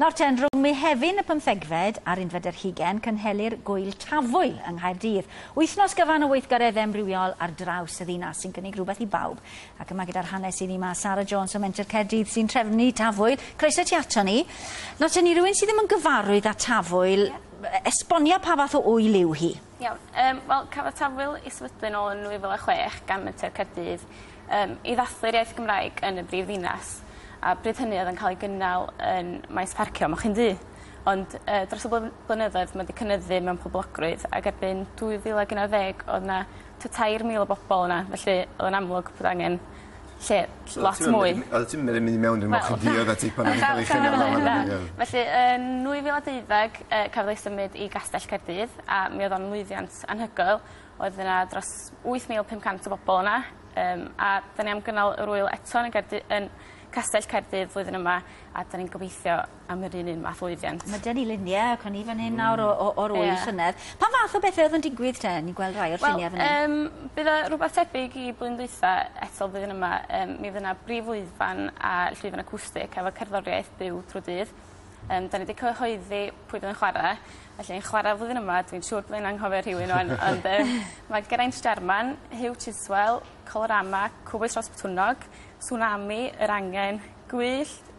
Nawr ten, rhwng Mehefin y pymthegfed a'r unfed ar hugen, cynhelir Gŵyl Tafwyl yng Nghaerdydd. Wythnos gyfan o weithgareddau amrywiol ar draws y ddinas sy'n cynnig rhywbeth i bawb. Ac yma gyda'r hanes iddi mae Sarah Jones o Menter Caerdydd sy'n trefnu Tafwyl. Croeso ti ato ni. Nawr ten, i rywun sydd ddim yn gyfarwydd â Tafwyl, esbonia pa fath o ŵyl yw hi? Iawn yym wel cafodd tafwyl ei sefydlu yn ôl yn 2006 gan Menter Caerdydd yym i ddathlu'r iaith Gymraeg yn y brif ddinas a bryd hynny o'dd yn ca'l ei gynnal yn maes parcio moch un du ond yy dros y bly- blynyddoedd ma' 'di cynyddu mewn poblogrwydd ag erbyn 2011 o'dd 'na t'a tair mil o bobol yna felly o'dd o'n amlwg bod angen lle lot mwy. Oddet ti'm yn myn' i mewn dim ond diod a ti pan o'n i'n ca'l 'i chynnal lan yn y miwn. Felly yn nwy fil a deuddeg yy cafodd ei symud i Gastell Caerdydd a mi odd o'n lwyddiant anhygoel oedd yna dros wyth mil pum cant o bobol yna yym a 'dan ni am gynnal yr ŵyl eto yn y gerddi- yn Castell Caerdydd flwyddyn yma a 'dan ni'n gobeithio am yr un un math o lwyddiant. Ma' 'dyn ni lunie ac o'n i fan hyn nawr o o o'r ŵyl... Ie. ...llynedd. Pa fath o bethe o'dd yn digwydd 'te? Ni'n gweld rhai o'r llunie fyn 'yn. Wel yym bydd e rwbeth tebyg i blwyddyn dwitha eto flwyddyn yma yym mi fy' 'na brif lwyfan a llwyfan acwstic efo cerddoriaeth byw trw'r dydd. Yym 'dan ni 'di cyhoeddi pwy fydd yn chware felly yn chware flwyddyn yma dwi'n siŵr byddai'n anghofio rhywun ŵan ond yym ma' Geraint Jarman, Huw Chiswell, Colorama, Cowbois Ros Botwnnog, Tsunami, Yr Angen, Gwyllt,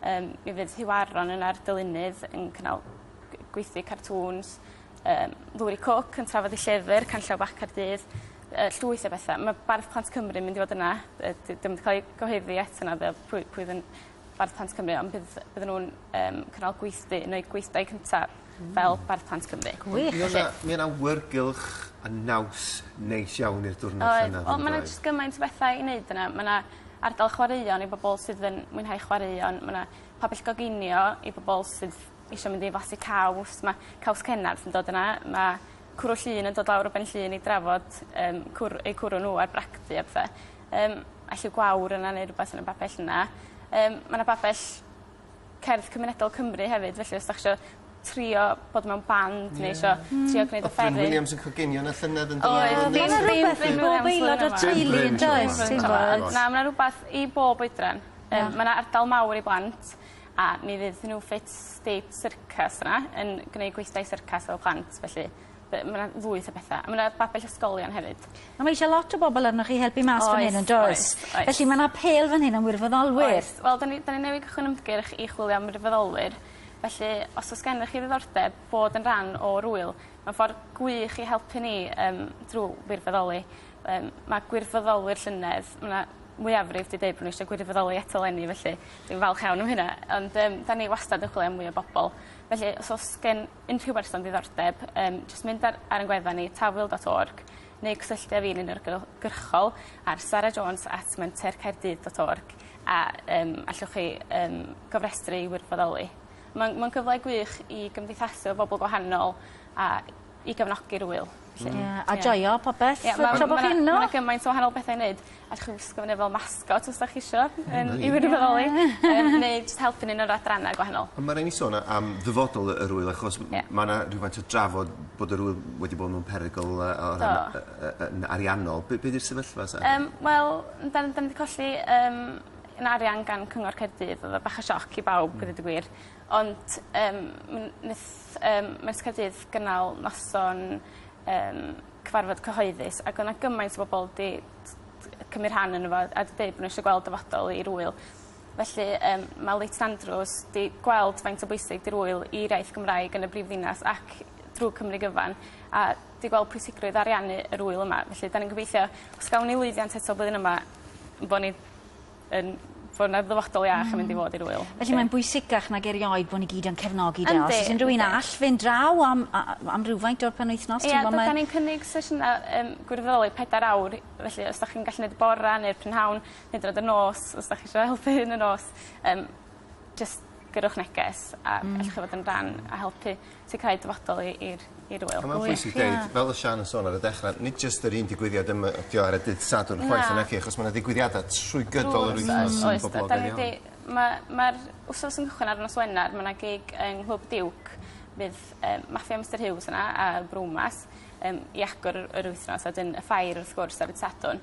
Yym mi fydd Huw Aron yn a'r dylunydd yn cynnal gw- gweithdy cartŵns yym Lwri Cwc yn trafod 'i llyfyr Canllaw Bach Caerdydd yy llwyth o betha ma' bardd plant Cymru mynd i fod yna yy d- dim 'di ca'l ei gyhoeddi eto naddo pwy pwy fyn- bardd plant Cymru ond bydd bydden nw'n yym cynnal gweithdy yn eu gweithdai cynta. fel bardd plant Cymru. Gwych. Mi o' 'na mi o' 'na awyrgylch a naws neis iawn i'r diwrnod yna on'd oedd? Oedd. O ma' 'na jyst gymaint o betha i neud yna ma' 'na ardal chwaraeon i bobol sydd yn mwynhau chwaraeon ma' 'na pabell goginio i bobol sydd isio mynd i flasu caws ma' Caws Cennarth yn dod yna ma' cwrw Llŷn yn dod lawr o Benllŷn i drafod yym cwr- eu cwrw n'w ar bragdy a pethe. Yym a lliw gwawr yna neu rwbeth yn y babell yna. Yym ma' 'na babell cerdd cymunedol Cymru hefyd felly os 'dach chi isio trio bod mewn band neu isio trio gneud offeryn... O'dd Glyn Williams yn coginio yn y llynedd on'd oedd? Oedd. O'dd. Dyna rwbeth i bob aelod o'r teulu yndoes ti'n gwbod? Na ma' 'na rwbath i bob oedran. Yym ma' 'na ardal mawr i blant a mi fydd New Fit State Circus yna yn gneud gweithdai syrcas efo plant felly Be'? Ma' 'na lwyth o betha a ma' 'na babell ysgolion hefyd. A ma' eisiau lot o bobol arnoch chi helpu mas fan 'yn yndoes? Oes oes oes. Felly ma' 'na apêl fan hyn am wirfoddolwyr. Oes wel 'dan ni 'dan ni newydd cychwyn ymgyrch i chwilio am wirfoddolwyr felly os o's gennych chi ddiddordeb bod yn rhan o'r ŵyl ma' ffor gwych i helpu ni yym drw wirfoddoli yym ma' gwirfoddolwyr llynedd ma' 'na mwyafrif 'di deud bo' n'w isio gwirfoddoli eto leni felly dwi'n falch iawn am hynna ond yym 'dan ni wastad yn chwilio am mwy o bobol felly os o's gen unrhyw berson diddordeb yym jyst mynd ar ar 'yn gwefan ni tafwyl dot org neu cysylltu â fi'n unigryw- gyrchol ar Sara Jones at menter Caerdydd dot org a yym allwch chi yym gofrestru i wirfoddoli. Ma'n ma'n gyfle gwych i gymdeithasu efo bobol gwahanol a i gefnogi'r ŵyl. 'lly. Ie a joio popeth yy tra bo' chi yno. Ma' 'na gymaint o wahanol bethe i neud allwch chi wisgo fo fel mascot os 'dach chi isio yn i fyn' i fy ôl i. Yym neu jyst helpu ni yn yr adranna gwahanol. On' ma' rai' ni sôn a- am ddyfodol y yr ŵyl achos m- m- ma' 'na rywfaint o drafod bod yr ŵyl wedi bod mewn perygl yy o ran... Do. ...yy yy yn ariannol be' be' 'di'r sefyllfa sa? Yym wel n- 'dan 'dan ni 'di colli yym 'yn arian gan Cyngor Caerdydd odd o bach o sioc i bawb gweud y gwir. Ond yym m- neth yym Maes Caerdydd gynnal noson yym cyfarfod cyhoeddus ag o' 'na gymaint o bobol 'di t- t- yy cymryd rhan yno fo a 'di deud bo' n'w isio gweld dyfodol i'r ŵyl felly yym ma' Lake St Andrews 'di gweld faint o bwysig 'di'r ŵyl i'r iaith Gymraeg yn y brifddinas ac drw Cymru gyfan a 'di gweld pwysigrwydd ariannu yr ŵyl yma felly 'dan ni'n gobeithio os gawn ni lwyddiant eto blwyddyn yma bo' ni yn fwy na ddyfodol iach yn mynd i fod i'r ŵyl. Felly mae'n bwysicach nag erioed bo' ni gyd yn cefnogi 'de? Yndi. Os o's unryw un all fynd draw am a- a- am rywfaint o'r penwythnos t'mbo' ma'... Ie dydan ni'n cynnig sesiyna yym gwirfoddoli pedair awr i felly os 'dach chi'n gallu neud y bora' ne'r prynhawn hyd yn o'd y nos os 'dach chi isio helpu yn y nos yym jyst gyrrwch neges a... Hmm. ...ellwch chi fod yn rhan a helpu sicirhau dyfodol i i'r i'r ŵyl. A ma'n pwysig deud... Gwych ie. ...fel o' Siân yn sôn ar y dechre nid jyst yr un digwyddiad yma ydi o ar y dydd Sadwrn chwaith... Na. ...na naci achos ma' 'na ddigwyddiada trwy gydol yr wythnos sy'n boblogaidd iawn. Oes 'dan ni 'di ma' ma'r wsos yn cychwyn ar nos Wener ma' 'na gig yng Nghlwb Diwc fydd yym Mafia Mister Huws yna a Brewmas yym i agor yr yr wythnos a 'dyn y ffair wrth gwrs ar y' Sadwrn.